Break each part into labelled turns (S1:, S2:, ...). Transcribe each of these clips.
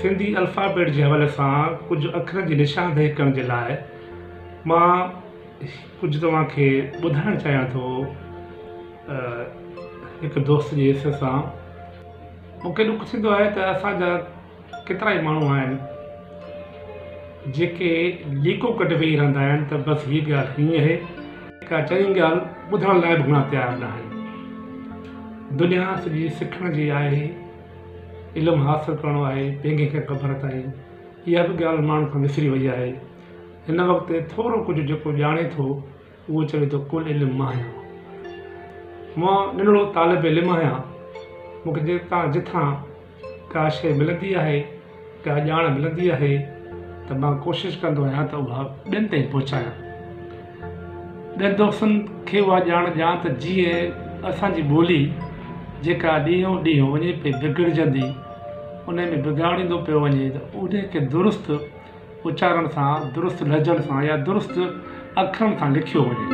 S1: Sindhi alphabet جي حوالي سان ڪجهه اکرن جي نشاندهي ڪرڻ جي لاء مان ڪجهه توهان کي ٻڌائڻ چاهيان ٿو هڪ دوست جي حصي سان مون کي ڏک ٿيندو آهي ته اسان جا ڪيترا ئي ماڻهو آهن جيڪي ليڪون ڪڍي ويهي رهندا آهن ته بس هيء ڳالهه هيئن اهي ڪا چڱي ڳالهه ٻڌڻ لاء به گهڻا تيار نه آهن. دنيا سڄي سکڻ جي آهي، علم حاصل ڪرڻو آهي، پينگهي کان قبر تائين، اها به ڳالهه ماڻهن کان وسري وئي آهي. هن وقت ٿورو ڪجهه جيڪو ڄاڻي ٿو. اهو چوي ٿو ڪل علم مان آهيان. مان ننڍڙو طالب علم آهيان. مون کي جتان جتان ڪا شيء ملندي آهي، ڪا ڄاڻ ملندي آهي ته مان ڪوشش ڪندو آهيان ته اها ٻين تائين پهچايان. ٻين دوستن کي اها ڄاڻ ڏيان ته جيئن اسان جي ٻولي جيڪا ڏينهون ڏينهن وڃي پئي بگڙجندي، ان ۾ بگاڙ ايندو پيو وڃي ته ان کي درست اچارڻ سان، درست لھجن سان يا درست اکرن سان لکيو وڃي.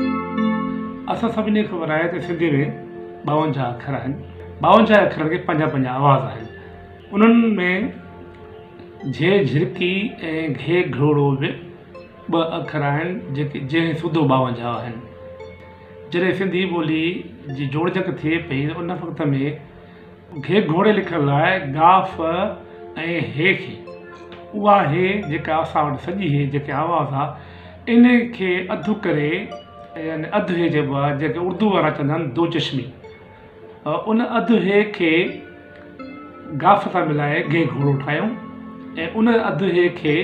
S1: اسان سڀني کي خبر آھي ته سنڌي ۾ ٻاونجاھ اکر آھن. ٻاونجاھ اکرن کي پنجاھ پنجاھ آواز آھن. انھن ۾ جھي جھرڪي ۽ گھي گھروڙو به ٻه اکر آھن جيڪي جنھن سوڌو ٻاونجاھ آھن. جڏھن سنڌي ٻولي جي جوڙجڪ ٿئي پئي ان وقت ۾ گهي گهوڙي لکڻ لاء گا ف ۽ هي کي اها هي جيڪا اسان وٽ سڄي هي جيڪي آواز آ ان کي اڌ ڪري يعني اڌ هي چئبو آ جيڪي اردو وارا چوندا آهن دو چشمي ان اڌ هي کي گا ف سان ملائي گهي گهوڙو ٺاهيون ۽ ان اڌ هي کي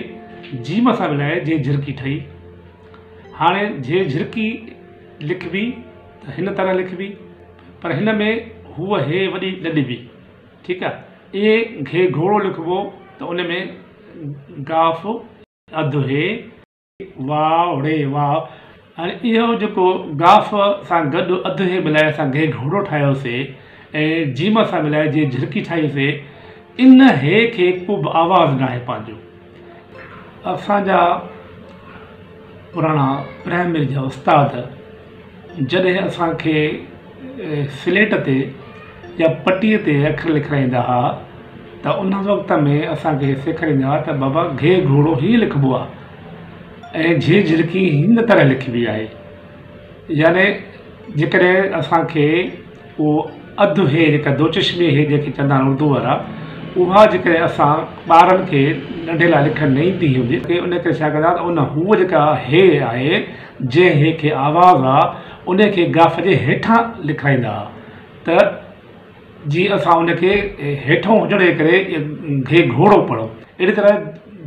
S1: جيم سان ملائي جهي جهرڪي ٺهي هاڻي جهي جهرڪي لکبي ته هن طرح لکبي پر هن ۾ هوء هي وڏي ڏڏبي ٺيڪ آ ايئن گهي گهوڙو لکبو ته ان ۾ گاف اڌ هي واوڙي واء هاڻي اهو جيڪو گاف سان گڏ اڌ هي ملائي اسان گهي گهوڙو ٺاهيو سي ۽ جيم سان ملائي جي جهرڪي ٺاهي سي ان هي کي ڪوبه آواز ناهي پنهنجو اسان جا پراڻا پرائمري جا استاد جڏهن اسان کي سليٽ تي يا پٽي تي اکر لکرائيندا ها ته ان وقت ۾ اسان کي سيکاريندا هئا ته بابا گهي گهوڙو هيئن لکبو آهي ۽ جهي جهرڪي هن طرح لکبي آهي يعني جيڪڏهن اسان کي اهو اڌ هي جيڪا دو چشمي هي جنهن کي چوندا آهن اردو وارا اها جيڪڏهن اسان ٻارن کي ننڍي لاء لکڻ نه ايندي هوندي ته ان ڪري ڇا ڪندا ته ان هو جيڪا هي آهي جنهن هي کي آواز آ ان کي گاف جي هيٺان لکرائيندا ها ته جي اسان ان کي هيٺون هجڻ جي ڪري گهي گهوڙو پڙهو اهڙي طرح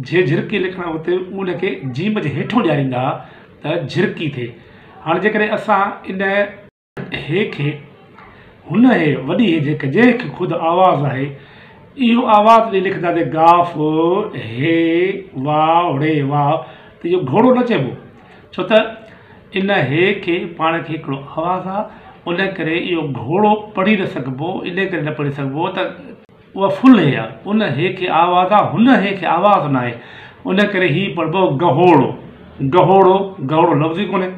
S1: جي جهرڪي لکڻ جو هتي ان کي جيم جي هيٺون ڏياريندا ها ته جهرڪي ٿئي هاڻ جيڪڏهن اسان ان هي کي هن هي وڏي هي جيڪ جنهن کي خود آواز آهي اهو آواز ڏئي لکندا ته گا ف هي وا ڙي وا ته اهو گهوڙو نه چئبو ڇو ته ان هي کي پاڻ کي هڪڙو آواز آ ان ڪري اهو گهوڙو پڙهي نه سگهبو ان ڪري نه پڙهي سگهبو ته اها فل هي آ ان هي کي آواز آ هن هي کي آواز ناهي ان ڪري هي پڙهبو گهوڙو گهوڙو گهوڙو لفظ ئي ڪونهي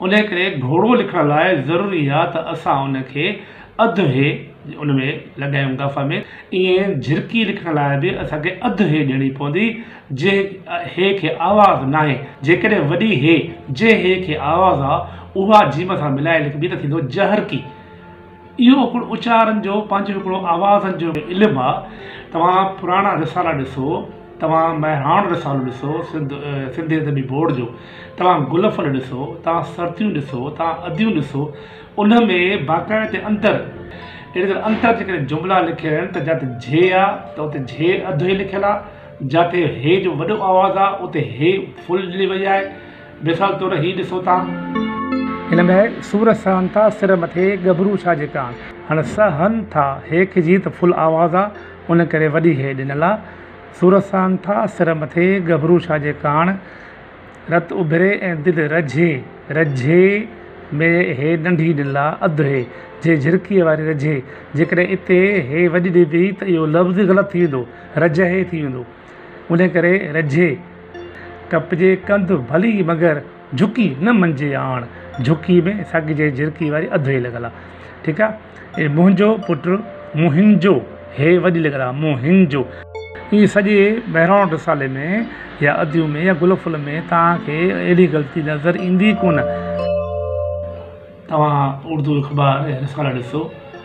S1: انهيء ڪري گهوڙو لکڻ لاء ضروري آ ته اسان ان کي اڌ هي ان ۾ لڳايون گف ۾ ائين جهرڪي لکڻ لاء به اسان کي اڌ هي ڏيڻي پوندي جنهن هي کي آواز ناهي جيڪڏهن وڏي هي جنهن هي کي آواز آ اها جيم سان ملائي لکبي ته ٿيندو جهرڪي. اهو هڪڙو اچارن جو پنهنجو هڪڙو آوازن جو علم آ توهان پراڻا رسالا ڏسو توهان مهراڻ رسالو ڏسو سنڌ سنڌي ادبي بورڊ جو توهان گل ڦل ڏسو توهان سرتيون ڏسو توهان اديون ڏسو ان ۾ باقاعدي انتر اهڙي طرح انتر جي ڪري جملا لکيل آهن ته جت جي آ ته اتي جي اڌ هي لکيل آ جتي هي جو وڏو آواز آ اتي هي فل ڏني وئي آهي مثال طور هي ڏسو تان. هن ۾ سور سهن ٿا سر مٿي ڳڀرو ڇا جي ڪان. هن س هن ٿا هي کجي ته فل آواز آ ان ڪري وڏي هي ڏنل آ. سور سهن ٿا سر مٿي ڳڀرو ڇا جي ڪان. رت اڀري ۽ دل رجهي، رجهي، ۾ هي ننڍي ڏنل آ اڌ هي جي جهرڪي واري رجهي جيڪڏهن اتي هي وڏي ڏبي ته اهو لفظ ئي غلط ٿي ويندو رجهي ٿي ويندو. ان ڪري رجهي ڪپجي ڪنڌ ڀلي مگر جهڪي نه مڃجي آڻ جهڪي ۾ سگهجي جهرڪي واري اڌ هي لڳل آ ٺيڪ آ اي منهنجو پٽ موهنجو هي وڏي لڳل آ موهنجو. ايئن سڄي مهراڻ رسالي ۾ يا اديون ۾ يا گل ڦل ۾ توهان کي اهڙي غلطي نظر ايندي ڪونه. توهان اردو اخبار يا رسالا ڏسو.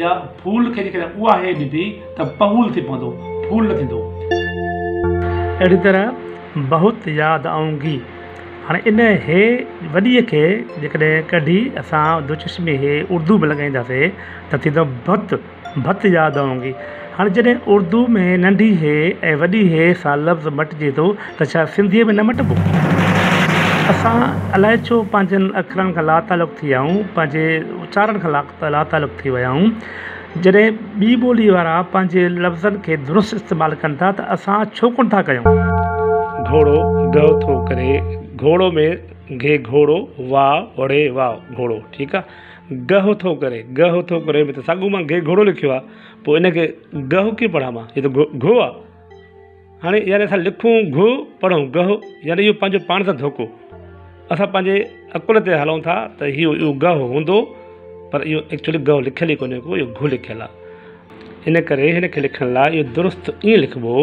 S1: يا ڦول کي جيڪڏهن اها هيء ڏبي ته پهول ٿي پوندو، ڦول نه ٿيندو. اهڙيء طرح بهت ياد آئونگي. هاڻي ان هيء وڏيء کي جيڪڏهن ڪڍي اسان دوچشمي هيء اردو ۾ لڳائينداسين ته ٿيندو بهت، بهت ياد آئونگي. هاڻي جڏهن اردو ۾ ننڍي هيء ۽ وڏي هيء سان لفظ مٽجي ٿو ته ڇا سنڌيء ۾ نه مٽبو؟ اسان الائي ڇو پنهنجن اکرن کان لاتعلق ٿي آهيون، پنهنجي اچارڻ کان ته لاتعلق ٿي ويا آهيون. جڏهن ٻي ٻوليء وارا پنهنجي لفظن کي درست استعمال ڪن ٿا ته اسان ڇو ڪونه ٿا ڪيون. گهوڙو، گهه ٿو ڪري، گهوڙو ۾ گهي گهوڙو، واء، وڙي واء، گهوڙو، ٺيڪ آ. گهه ٿو ڪري، گهه ٿو ڪري ۾ ته ساڳيو مان گهي گهوڙو لکيو آ، پوء ان کي گهه ڪيئن پڙهان مان، هي ته گهو آ. هاڻي يعني اسان لکون گهه پڙهون گهه يعني اهو پنهنجو پاڻ سان ڌوڪو اسان پنهنجي عقل تي هلون ٿا ته اهو اهو گهه هوندو پر اهو ايڪچولي گهه لکيل ئي ڪونهي ڪو اهو گهه لکيل آهي ان ڪري هن کي لکڻ لاء اهو درست ائين لکبو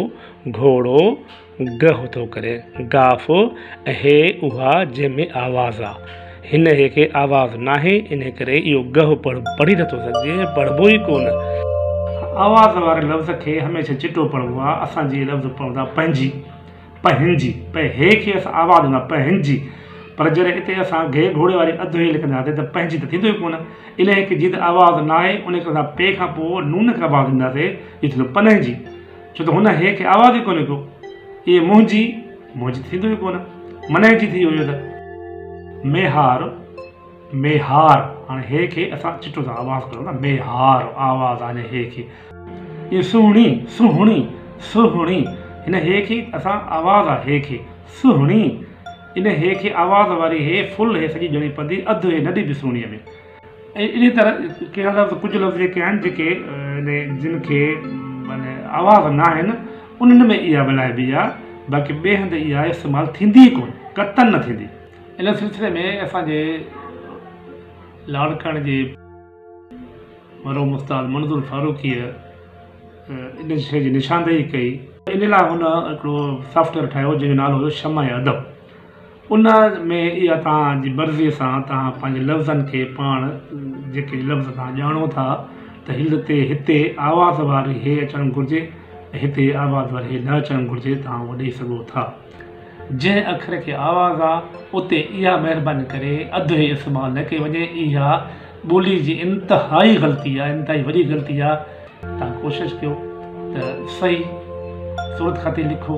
S1: گهوڙو گهه ٿو ڪري گاف ۽ هي اها جنهن ۾ آواز آ هنهي کي آواز ناهي، انهي ڪري اهو گهه پڙ پڙهي نٿو سگهجي ۽ پڙهبو ئي ڪونه. آواز واري لفظ کي هميشه چٽو پڙهبو آهي. اسان جي لفظ پوندا پنهنجي، پهنجي، پئي هي کي اسان آواز ڏندا پهنجي، پر جڏهن اتي اسان گهي گهوڙي واري اڌ هي لکنداسين ته پنهنجي ته ٿيندو ئي ڪونه. انهي کي جيئن ته آواز ناهي، انهي ڪري اسان پي کان پوء نون کي آواز ڏينداسين، جيئن ٿيندو پنهنجي. ڇو ته هن هيء کي آواز ئي ڪونه ڪيو. ايء منهنجي، منهنجي ته ٿيندو ئي ڪونه. منهنجي ٿي ويو ته. ميهار، ميهار، هاڻي هيء کي اسان چٽو ٿا آواز ڪريون نه، ميهار، آواز هاڻي هيء کي. ايء سهڻي، سهڻي، سهڻي، هن هيء کي اسان آواز آ هيء کي، سهڻي، ان هيء کي آواز واري هيء فل هيء سڄي ڄڻي پدي اڌ هيء نڍي به سهڻيء ۾. ۽ انهيء طرح ڪيئي لفظ ڪجهه لفظ جيڪي آهن جيڪي يعني جن کي يعني آواز نه آهن انهن ۾ اها ملائبي آهي باقي ٻئي هنڌ اها استعمال ٿيندي ئي ڪونه قطعاً نه ٿيندي ان سلسلي ۾ اسان جي لاڙڪاڻي جي مرحوم استاد منظور فاروقيء ان شيء جي نشاندهي ڪئي. ان لاء هن هڪڙو سافٽويئر ٺاهيو جنهن جو نالو هيو شمع ادب. ان ۾ اها توهان جي مرضيء سان توهان پنهنجي لفظن کي پاڻ جيڪي لفظ توهان ڄاڻو ٿا ته هل تي هتي آواز واري هي اچڻ گهرجي ۽ هتي آواز واري هي نه اچڻ گهرجي توهان اهو ڏئي سگهو ٿا. جنهن اکر کي آواز آ اتي اها مهرباني ڪري اڌ هي استعمال نه ڪئي وڃي اها ٻولي جي انتهائي غلطي آ انتهائي وڏي غلطي آ. توهان ڪوشش ڪيو ته صحيح صورت خطي لکو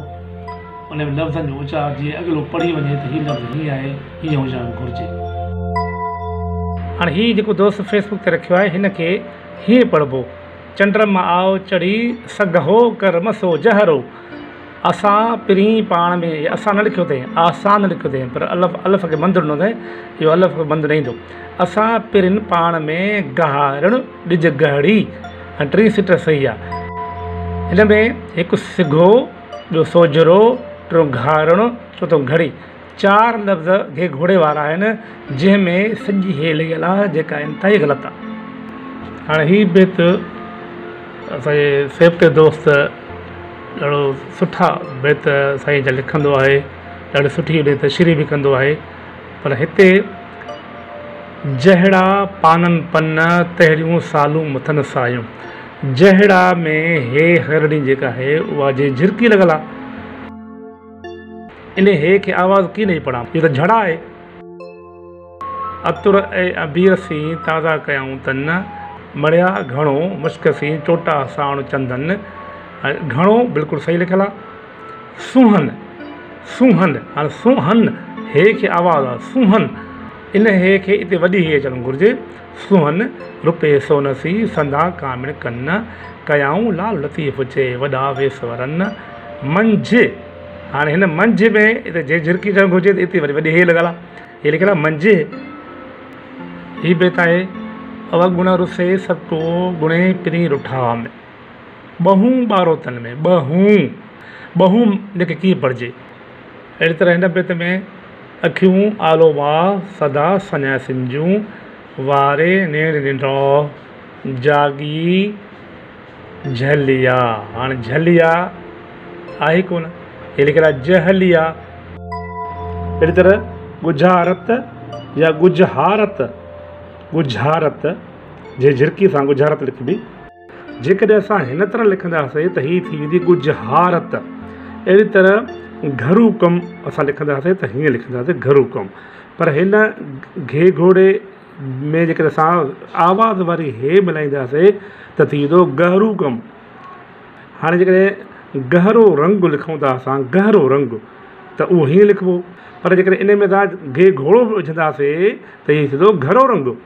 S1: ان ۾ لفظن جو اچار جيئن اڳلو پڙهي وڃي ته هي لفظ هيئن آهي هيئن هجڻ گهرجي. هاڻي هي جيڪو دوست فيس بڪ تي رکيو آهي هن کي هيئن پڙهبو چنڊرم آئو چڙهي سگهو ڪرم سو جهرو. اسان پرين پاڻ ۾ اسا نه لکيو اٿئي آسان نه لکيو اٿئي پر الف الف کي بند ڏنو اٿئي اهو الف به بند نه ايندو اسان پرين پاڻ ۾ گهارڻ ڏج گهڙي ۽ ٽي سٽ صحيح آ هن ۾ هڪ سگهو ٻيو سوجهرو ٽيون گهارڻ چوٿون گهڙي چار لفظ گهيگهوڙي وارا آهن جنهن ۾ سڄي هيء لڳل آ جيڪا انتهائي غلط آ هاڻي هي بيت اسانجي سيبتي دوست ڏاڍو سٺا بيت سائين جا لکندو آهي ڏاڍي سٺي بيت شري به ڪندو آهي پر هتي جهڙا پانن پن تهڙيون سالون مٿن سايون جهڙا ۾ هي هرڙي جيڪا آهي اها جي جهرڪي لڳل آ انهيء هي کي آواز ڪين ڏئي پڙهان. هيء ته جھڙا آهي. عطر ۽ عبير سين تازا ڪيائون تن، مڙيا گهڻو مشڪ سين چوٽا ساڻ چندن. گهڻو بلڪل صحيح لکيل آهي. سونهن، سونهن، هاڻي سونهن هي کي آواز آهي. سونهن، انهيء هي کي اتي وڏي هي اچڻ گهرجي. سونهن رپئي سون سي، سندا ڪامڻ ڪن. ڪيائون لال لطيف جي، وڏا ويس ورن. منجهه، هاڻي هن منجهه ۾ هتي جي جهرڪي ڪرڻ گهرجي ته هتي وري وڏي هيء لڳل آهي. هيء لکيل آهي منجهه. هي بيت آهي. اوگڻ رسي سڀ ڪو، گڻي پرين رٺا ۾. ٻهون ٻارو تن ۾، ٻهون، ٻهون جي کي ڪيئن پڙهجي؟ اهڙي طرح هن بيت ۾ اکيون آلو ماء سدا سڃائيسين جون، واري نيڻ ننڊڙو جاڳي جهليا، هاڻ جهليا آهي ڪونه هي لکيل آهي جهليا. اهڙي طرح ڳجها رت يا ڳجها رت، ڳجها رت جي جهرڪي سان ڳجها رت لکبي. جيڪڏهن اسان هن طرح لکنداسين ته هي ٿي ويندي ڳجهه هارت. اهڙي طرح گهرو ڪم اسان لکنداسين ته هيئن لکنداسين گهرو ڪم. پر هن گهيگهوڙي ۾ جيڪڏهن اسان آواز واري هي ملائينداسين ته ٿي ويندو ڳهرو ڪم. هاڻي جيڪڏهن گهرو رنگ لکون ٿا اسان گهرو رنگ ته اهو هيئن لکبو پر جيڪڏهن ان ۾ اسان گهيگهوڙو به وجهنداسين ته هي ٿيندو گهرو رنگ.